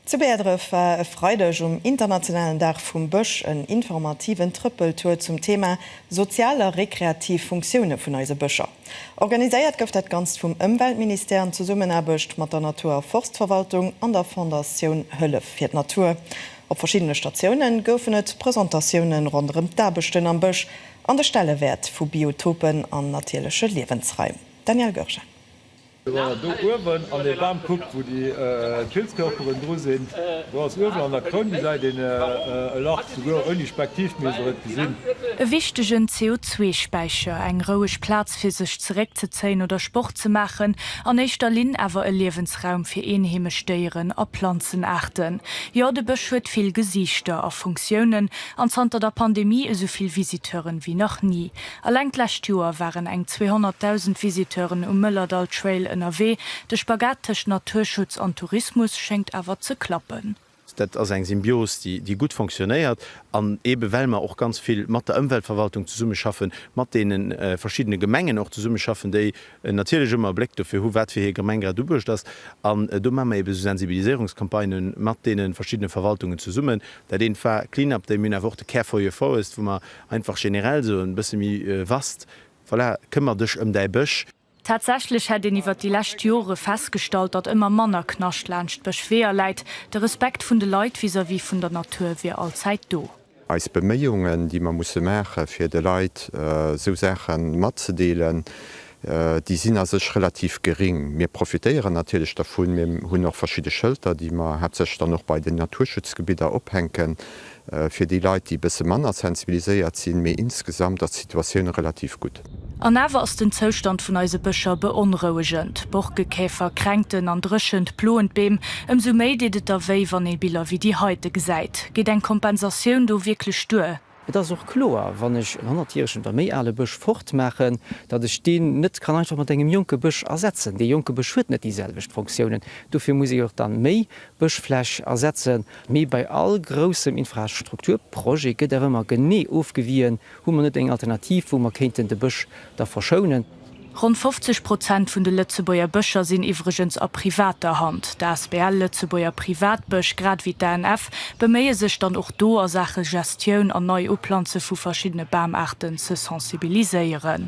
Zu Bäerdref war e Freideg um internationalen Dag vum Bësch en informativen Trëppeltour zum Thema sozial a rekreativ Funktioune vun eise Bëscher. Organiséiert gouf dat Ganzt vum Ëmweltministère an Zesummenaarbecht mat der Natur a Forstverwaltung an der Fondatioun Hëllef fir d'Natur. Op verschiddene Statioune goufen et Presentatioune ronderëm d'Aarbechten am Bësch an de Stellewäert vu Biotopen an natierleche Liewensraim. Danielle Goergen. Do uewen an dee Bam kuckt, wou déi Pilzkörperen dru sinn, do ass uewen an der Kroun, gesäit een e Lach, souguer ouni Spektiv misst der et gesinn. E wichtegen CO2-Späicher, eng roueg Plaz fir sech zeréckzezéien oder Sport ze maachen, an éischter Linn awer e Liewensraum fir eenheemesch Déieren a Planzenaarten. Jo, de Bësch huet vill Gesiichter a Funktiounen an zanter der Pandemie esou vill Visiteuren wéi nach ni. Alleng d'lescht Joer waren eng 200.000 Visiteuren um Mëllerdall Trail ënnerwee. De Spagat tëscht Naturschutz an Tourismus schéngt awer ze klappen. Dat ass eng Symbios, déi gutt fonctionnéiert. An eebe well mer och ganz vill mat der Ëmweltverwaltung zesummeschaffen, mat deene verschiddene Gemengen och zesummeschaffen, déi natierlech ëmmer e Bléck dofir hu wat fir hir Gemeng grad ubuecht ass. An do maache mer eebe esou Sensibiliséierungscampagnë mat deene verschiddene Verwaltungen zesummen. Dat eent war Clean-Up Day. Mir hunn awer och de Care for your Forest, wou mer Einfach generell sou en bësse méi vast, voilà, këmmer dech ëm däi Bësch. Tatsächlech hätt een iwwert déi lescht Jore festgestallt, datt ëmmer manner Knascht laanscht Bëschweeër läit. De Respekt vun de Leit vis-à-vis vun der Natur wier allzäit do. Eis Beméiungen, déi mer musse maachen, fir de Leit sou Saache matzedeelen, déi sinn a sech relativ gering. Mir profitéieren natierlech dervun, mir hunn och verschidde Schëlter, déi mer haaptsächlech dann och bei den Naturschutzgebidder ophänken, Fir déi Leit, déi e bësse manner sensibiliséiert sinn, mee insgesamt ass d'Situatioun relativ gutt. An awer ass den Zoustand vun eise Bëscher beonrouegend. Borkekäfer, Kränkten an Dréchent ploen d'Beem. Ëmsou méi deet et da wéi, wann ee Biller wéi déi heite gesäit. Geet eng Kompensatioun do wierklech duer? Et ass och kloer, wann ech en honnertjäregen oder méi ale Bësch fortmaachen, datt ech deen net kann einfach mat engem jonke Bësch ersetzen. Dee jonke Bësch huet net déi selwecht Fonctiounen. Dofir muss ee och da méi Bëschfläch ersetzen. Mee bei all groussem Infrastrukturprojet gëtt awer ëmmer genee ofgewien, Hu mer net eng Alternativ, wou mer kéinten de Bësch da verschounen? Ronn 50 Prozent vun de Lëtzebuerger Bëscher sinn iwwregens a privater Hand. D'asbl Lëtzebuerger Privatbësch, grad ewéi d'ANF, beméie sech dann och do a Saache Gestioun an Neiuplanze vu verschiddene Bamaarten ze sensibiliséieren.